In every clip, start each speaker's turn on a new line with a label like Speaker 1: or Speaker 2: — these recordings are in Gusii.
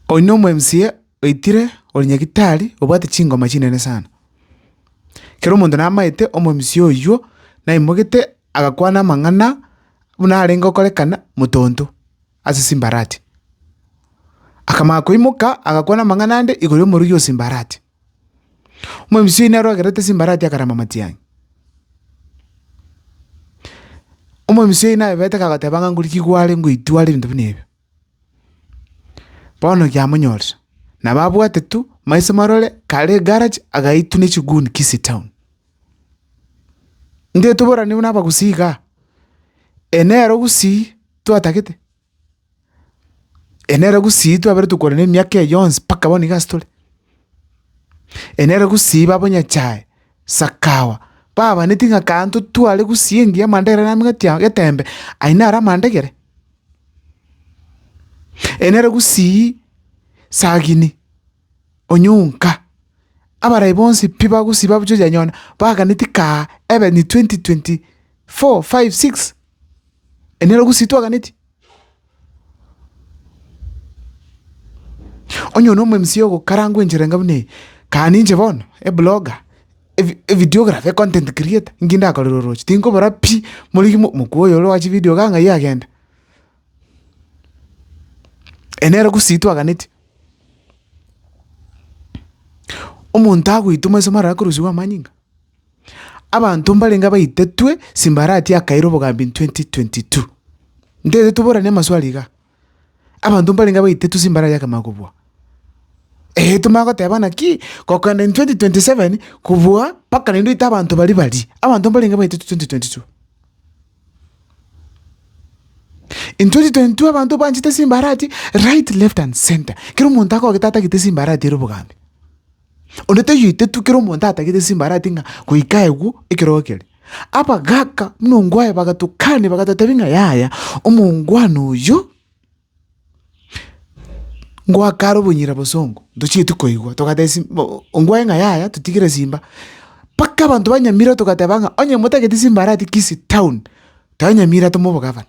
Speaker 1: Oino omo MCA oitire ore nyagetari obwate chingoma chinene sana. Kero omonto namaete omo MCA oywo naimogete agakwana amang'ana buna arenge okorekana motonto ase simbarati. Akamanya koimoka agakwana amang'ana ande igoro y'omorwoi o simbarati. Omo MCA oyio nere ogerete simbarati akarama matiang'i. Omo MCA oyio naebete kagoteba ng'a ngorikigware ngoitware ebinto buna ebio. Bono giamonyorire, nabo abwate tu maiso marore kare egaraji agaitwa ne chiguni Kisii Town. Intwe toboranie buna abagusii iga, eye nere ogusii twatagete, eye nere ogusii twaberetwe korenda emiaka eye yonsi mpaka bono iga ase tore. Eye nere ogusii ba bonyachae, sakawa, babanetie ng'a kare intwe tware gusii engiya amanda ere namigatia getembe, aye naro amanda egere. Ere nere gusii sagini onyonka, abarai bonsi pi bagusii babuchoria nyona baganeti kaa ebe ni 2024, 5, 6. Ere nere gusii twaganeti. Onye one omwemisiya ogokarangwa enchera enga buna eye, kaa ninche bono ebloga. ebi- evideography, econtent creator, inki ndakorera oroche, tinkobora pi, morigia mo- mokubwa oyo ore chividio iga ng'ai agende. Eye nere gusii twaganetie, omonto agoitwa maiso maraye akorusiwa amanyinga, abanto mbarenge abaitetwe simbarati akaira obogambi in twenty twenty two, ntetetwe boranie amaswali igaa. Abanto mbarenge abaitetwe chimbara yakemaa kobua. Eeh tomanye goteba naki, gokenda in twenty twenty seven kobua mpaka naende oite abanto baria baria, abanto mbarenge baitetwe twenty twenty two. In twenty twenty two abanto banchete chimbarati right, left and centre, kera omonto akogete atagete chimbarati ere obogambi. Onde toyoetetwe kero omonto atagete simba arati ng'a goika egwo ekerogo kere. Abagaka buna ongwaye bagatokani bagatotebi ng'a yaya omongwana oyo ngoakare obonyira bosongo ntochieti koigwa togateba sim ongwaye ng'a yaya totigire simba. Mpaka abanto ba Nyamira togateba ng'a onye motageti simba arati Kisii town, tonyamira tomoe obogavana.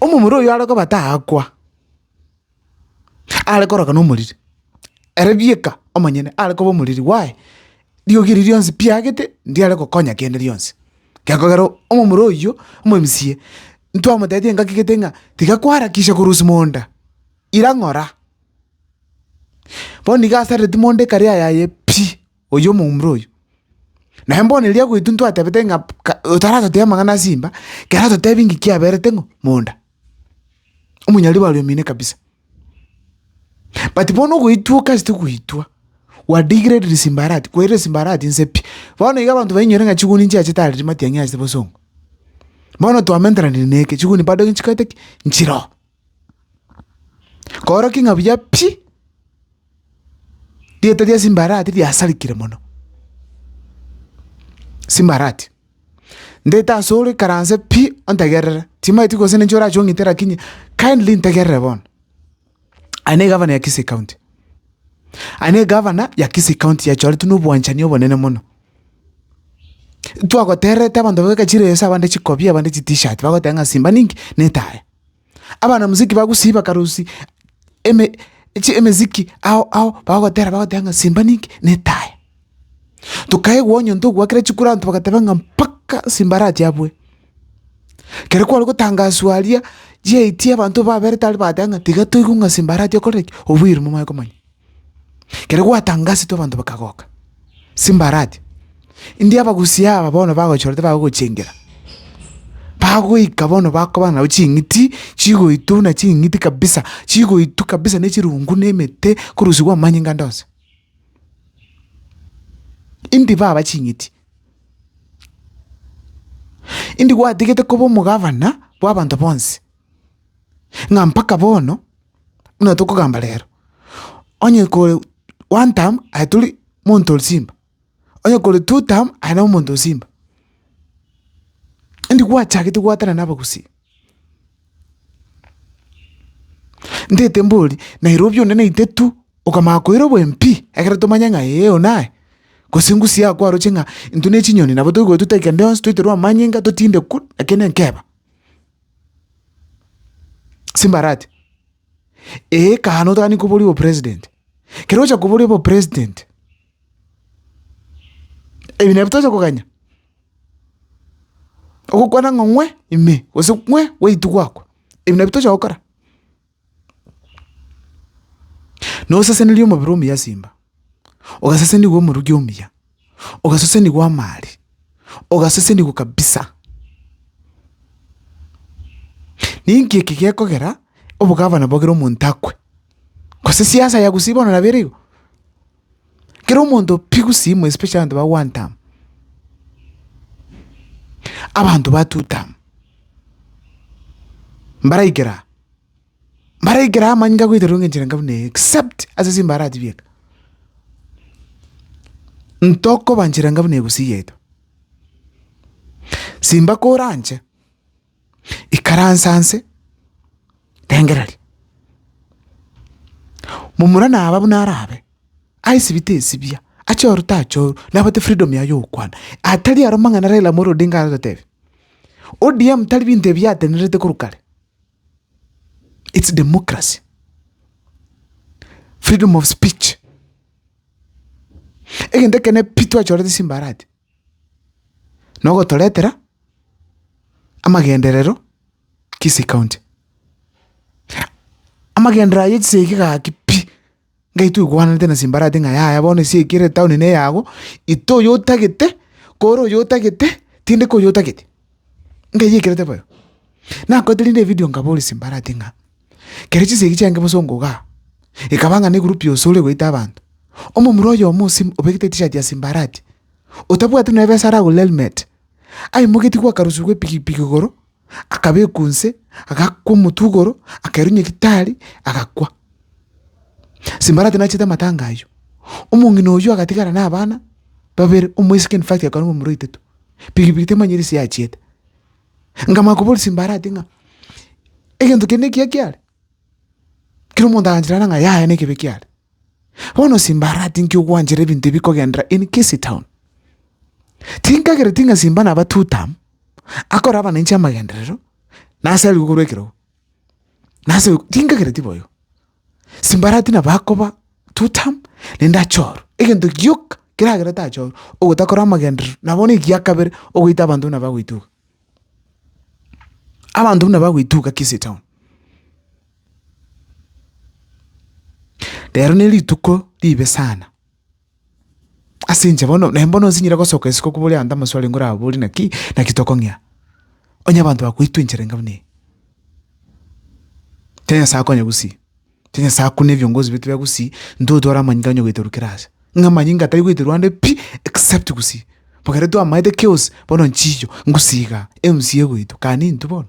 Speaker 1: Omomura oyio are koba taakwa, are koroka na omoriri, ere bieka omonyene are koba omoriri bwaye, riogi erio rionsi piagete ndiare gokonya kende gionsi. Gekogera omomura oyio, omomsie, ntwamotebirie engaki gete ng'a tiga kwarakisia korusia monda, ira ng'ora. Bono nigo asarereti monda ekari yaye pi. oyio omoumre oyio. Naye mbono erio agoitwa ntwatebete ng'a ka otaratotebia amang'ana a simba, kera ototebie ng'ai kiaberete ng'o? monda. Omonyarwanda are omino kabisa. But bono ogoitwa okasete goitwa, wa degraded simba arati, kwerire simba arati nse pi. Bono iga abanto bainyore ng'a chiguni nchiacha tareti matiang'i ase bosongo. Bono twamenteranirie neke, chiguni bado nchikoete ki? nchiroo. Koorokia ng'a buya pi, rieta ria Simbarati riasarigire mono. Simbarati, ndete asore ikaranse pi ontegerere, timanyeti gose ninche orache ong'ite lakini kindly ntegerere bono. Aye na egavana ya Kisii County, aye na egavana ya Kisii County yachoretwe na obwanchani obonene mono. Twagotererete abanto bagoteba chireso abande chikobia abande chitishati bagoteba ng'a Simba ninki? Netae. Abanamiziki ba gusii bakarusia eme chi emeziki ao ao bagotera bagoteba ng'a simba ninki na etaya. Tokaigwa onye onto ogwakire chikura abanto bagateba ng'a mpaka simba arache abue. Kere kware gotangaswa aria chiaetie abanto baberete aria bagateba ng'a tiga toigwe ng'a simba arache okorere ki obuya oria mobaye komanya. Ekero gwatangasetwe abanto bakagoka, Simbarati, India abagusii aba bono bagochorete bagogochengera, bagoika bono bakoba nao ching'iti chigoitwa buna ching'iti kabisa, chigoitwa kabisa na echirungu na emete korusigwa amanyinga ande onsi. India baba ching'iti, India gwatigete koba omogavana bw'abanto bonsi. ng'a mpaka bono buna tokogamba rero, onye kore one term aye tori monto ore Simba, onye kore two term aye nabo monto o Simba. Indi gwachagete goatana na abagusii, ntete mbori Nairobi onde naite tu okamanya koira obo MP ekero tomanye ng'a ee oyo naye, gose ngusii yago kwaroche ng'a intwe ne chinyoni nabo toigwetwe twaika rionsi twaiterwa amanyinga totinde kul, lakini nkeba. Simbarati, ee kare notaganie koboria obopresident, kero ogocha koboria obopresident, ebi nabio tocha koganya? Ogokwana ng'a ng'we ime gose ng'we gweitwe gwakwa, ebi nabio tocha gokora? Nosesenerie omobere omuya simba, ogasesenigwa omoruki omuya, ogasesenigwa amaari, ogasesenigwa kabisa. Ninki eki gekogera obogavana bogere omonto akwe? Gose siasa ya gusii bono nabere igo? Kera omonto pi gusimo especially abanto ba one term, abanto ba two term, mbaraikera aa, mbaraikera aa amanyinga agoetera engenchera enka buna eye except ase simba aratebie eke, ntokoba nchera enka buna egusii yaito. Simba koranche. Ikaransa nse, rengereria. Momura naba buna arabe, aisibite esibia, achoru tachoru, nabote freedom yaye yogokwana. Atari aro mang'ana Raila Amolo Odinga aragotebia, ODM tari binto ebi yatenerete korwa kare. It's democracy. Freedom of speech. Egento ekene pi twachorete simbarati. na ogotoretera amagenderero Kisii County. Amagenderero ayio chisegi eki gaki pi, ngai toigwanete na simbarati ng'a yaya bono esegi eki ere town ne eyago, ite oyo otagete, kore oyo otagete, tindi koyo otagete, ngaiyekerete boyo. Nakoete rende evidio nkaboria simbarati ng'a. Kera chinsa eki chiange bosa ongogaa, ekaba ng'a negurupu yonsi ore goita abanto. Omomura oyomo osimu obegete etishati ya Simbarati, otabwati nonya ebesa aragore helmet, aimogetie gw'akarusu gw'epigipigi igoro, akabekwa inse, agakwa omotwe igoro, akerunyia gitari, agakwa. Simbarati nachete amatanga ayio. Omong'ina oyio agatigara na abana babere, omoiseke in fact akarua omomura oitetwe. Pigipigi temanyire ase yachiete. Nkamanya koboria simbarati ng'a egento kende nekiya kiare, kera omonto agancherera ng'a yaya nekebe kiare. Bono simbarati nki ogwanchera ebinto ebi bikogenderera in Kisii Town. Tinkagereti ng'a simba naba two term, akore abananchi amagenderero, nase arigwe korwa ekerogo, nase tinkagereti boigo. simbarati nabo akoba two term naende achorwe, egento gioka keragere tachorwe ogotakora amagenderero nabo bono ekiya kabere ogoita abanto buna bagoituga. Abanto buna bagoituga Kisii town. Rero ne rituko ribe sana. Ase inche bono, naye mbono nsinyire gosoka isiko kobua ore ande amasu arenge orabori naki, naki tokong'ea. Onye abanto bakoitwa enchera enga buna eye, tari Nyasae akonya gusii, tari Nyasae akuna ebiongozi biaito bia gusii, intwe igo tware amanyinga onye goiterwa kera ase. Ng'a amanyinga tari goiterwa ande pi, except gusii. Bo ekero twamaete chaos, bono nchiyo, ngusii igaa, emcaa egoitwa, kani intwe bono.